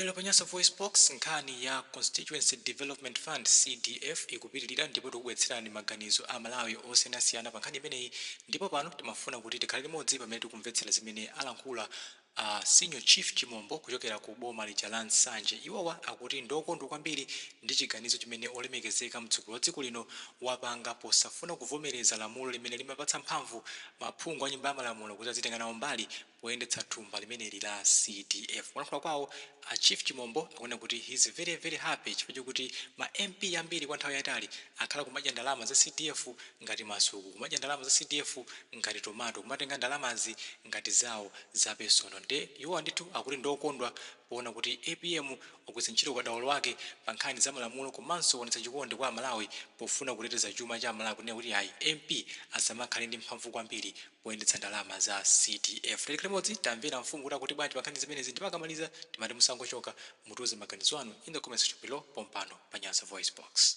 Lero pa Nyasa VoiceBox, nkhani ya Constituency Development Fund, CDF, ikupitilira ndipo tikubweretserani maganizo a Amalawi osiyanasiyana pa nkhani imeneyi ndipo pano timafuna kuti tikhale limodzi pamene tikumvetsera zimene alankhula a Senior Chief Chimombo kuchokera ku boma lija la Nsanje. Iwowa akuti ndiokondwa kwambiri ndi chiganizo chimene olemekezeka mtsogoleri wa dziko lino wapanga posafuna kuvomereza lamulo limene limapatsa mphamvu maphungu a Nyumba ya Malamulo kuti azitenga nawo mbali poyendetsa thumba limeneli la CDF. Polankhula kwawo, a Chief Chimombo akunena kuti he's very very happy chifukwa chokuti ma MP ambiri kwa nthawi yaitali akhala kumadya ndalama za CDF ngati masuku, kumadya ndalama za CDF ngati tomato, kumatenga ndalamazi ngati zawo za personal nde iwowa ndithu akuti ndiokondwa poona kuti apm wagwiritsa ntchito ukadaulo wake pa nkhani za malamulo komanso waonetsa chikondi kwa Amalawi pofuna kuteteza chuma cha Amalawi kunena kuti ayi MP asamakhale ndi mphamvu kwambiri poyendetsa ndalama za CDF tikhale limodzi timvere mfumu kuti akuti bwanji pankhani zimenezi ndipo akamaliza timati musangochoka mutiuze maganizo anu in the comment section below pompano pa Nyasa Voice Box.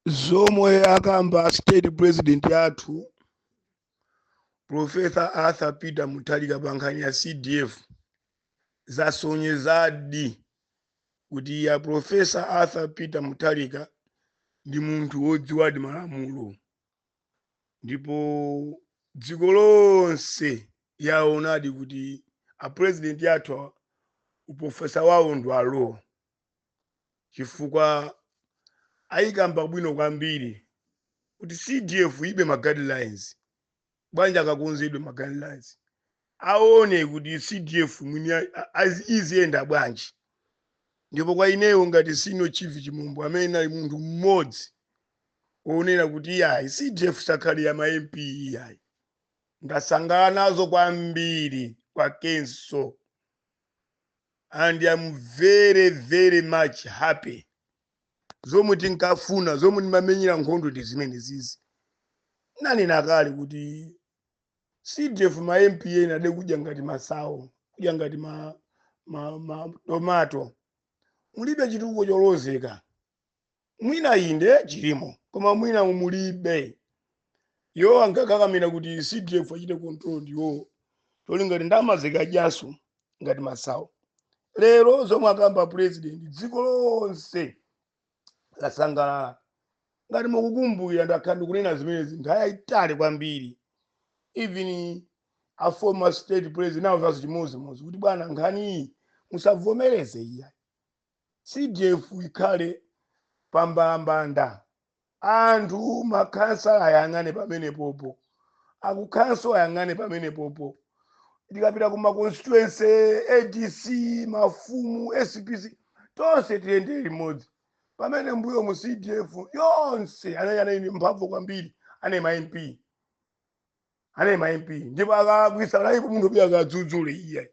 zomwe akamba state president athu professor arthur peter mutharika pa nkhani ya cdf zasonyezadi kuti a Profesa Arthur Peter Mutharika ndi munthu wodziwadi malamulo ndipo dziko lonse yaonadi kuti apurezidenti athu uprofesa wawo ndi awo chifukwa ayikamba bwino kwambiri kuti cdf ilibe ma guidelines bwanji akakonzedwe ma guidelines aone kuti cdf mwini a- a- azi- iziyenda bwanji ndipo kwa ineyo ngati senior chief chimombo amene anali munthu mmodzi wonena kuti iyayi cdf isakhale ya ma mp iyayi ndasangala nazo kwambiri kwakenso and am very very much happy zomwe tinkafuna zomwe timamenyera nkhondo ndi zimenezizi nanena kale kuti cdf ma mp anaidya kudya ngati masawo kudya ngati ma, ma, ma tomato mulibe chitukuko cholozeka mwina inde chilimo koma mwina mulibe iwo ankakakamira kuti cdf achite control ndiwowo cholinga kuti ndalamazi akadyeso ngati masawo lero zomwe akamba president dziko lonse lasangalala ngati mukukumbukira ndakhala ndikunena zimenezi nthawi yayitali kwambiri even a former state president ndinawauzaso chimodzimodzi kuti bwana nkhaniyi musavomereze iya cdf ikhale pambalambanda Anthu makhansala ayang'ane pamenepopo, aku khonsolo ayang'ane pamenepopo, tikapita ku ma constituency, adc, mafumu, SPC, tonse tiyende limodzi. Pamene mbuyo mu CDF yonse anali ndi mphamvu kwambiri, anali ma MP. anali ma mp ndipo akalakwisa analipo munthu oti akadzudzule iyayi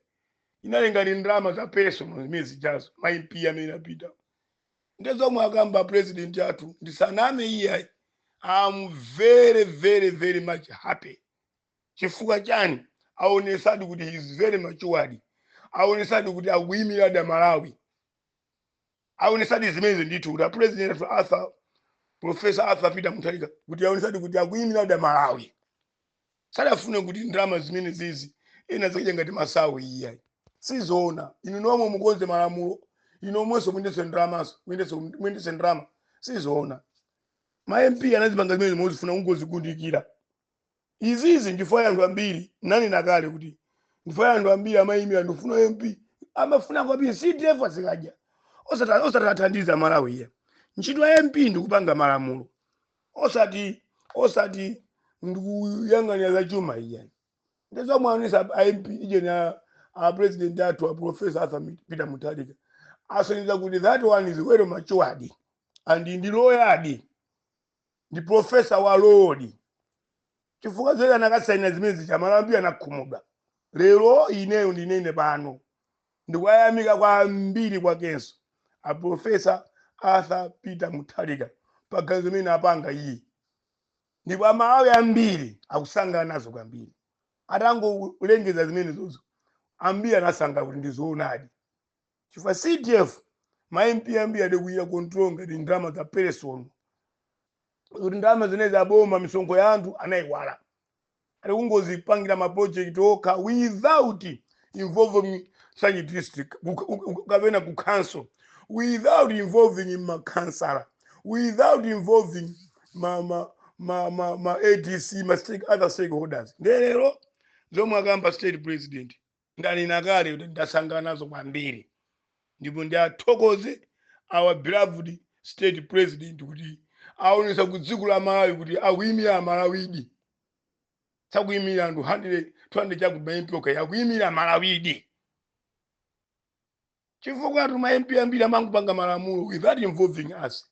inali ngati ndalama za personal zimene zijazo ma mp amene apita nde zomwe akamba a president athu ndisaname iyayi am very very very much happy chifukwa chani aonesadi kuti he is very matured aonesadi kuti akuyimiradi amalawi awonetsadi zimenezi ndithu kuti a president athu Arthur Professor Arthur Peter Mutharika kuti awonetsadi kuti akuyimiradi Amalawi sadafune kuti ndalama zimene zizi ena azikadya ngati masawu iyayi sizoona inu nomwe mukonze malamulo inu nomwenso muyendetse ndalamazo muyendetse- muyendetse ndalama sizoona ma MP anazipanga zimene mozifuna kungozikundikira izizi chifukwa anthu ambiri nanena kale kuti chifukwa anthu ambiri amayimira kufuna u mp amafuna kwambiri cdf azikadya osati osati athandize amalawi iyayi ntchito ya mp ndikupanga malamulo osati osati ndikuyang'anira za chuma iyayi nde zomwe anena a mp ijeni a a president athu a professor arthur Mit- peter mutharika asonyeza kuti that one is well matured and ndi loyadi ndi profesa wa lawdi chifukwa zoti akanasaina zimene zija amalawi ambiri akanakhumudwa lero ineyo ndinene pano ndikuwayamika kwambiri kwakenso aprofesa arthur peter mutharika paganizo limene apanga ili ndipo amalawi ambiri akusangalala nazo kwambiri atangolengeza zimenezozo ambiri anasangalala kuti ndizoonadi chifukwa cdf ma mp ambiri anali kuchita control ngati ndalama za personal kuti ndalama zimenezi zaboma misonkho ya anthu anayiwala ali kungozipangira ma project okha without involving such district ku- ku- ku- kapena ku council without involving ma councillor without involving ma ma ma ma, ma adc ma stake, other stakeholders nde lero zomwe akamba a state president ndanena kale kuti ndasangalala nazo kwambiri ndipo ndiathokoze our beloved state president kuti aonesa ku dziko la malawi kuti akuyimira amalawidi sakuyimira anthu 200 chakuti ma mp okha akuyimira amalawidi chifukwa tima mp ambiri amangopanga malamulo without involving us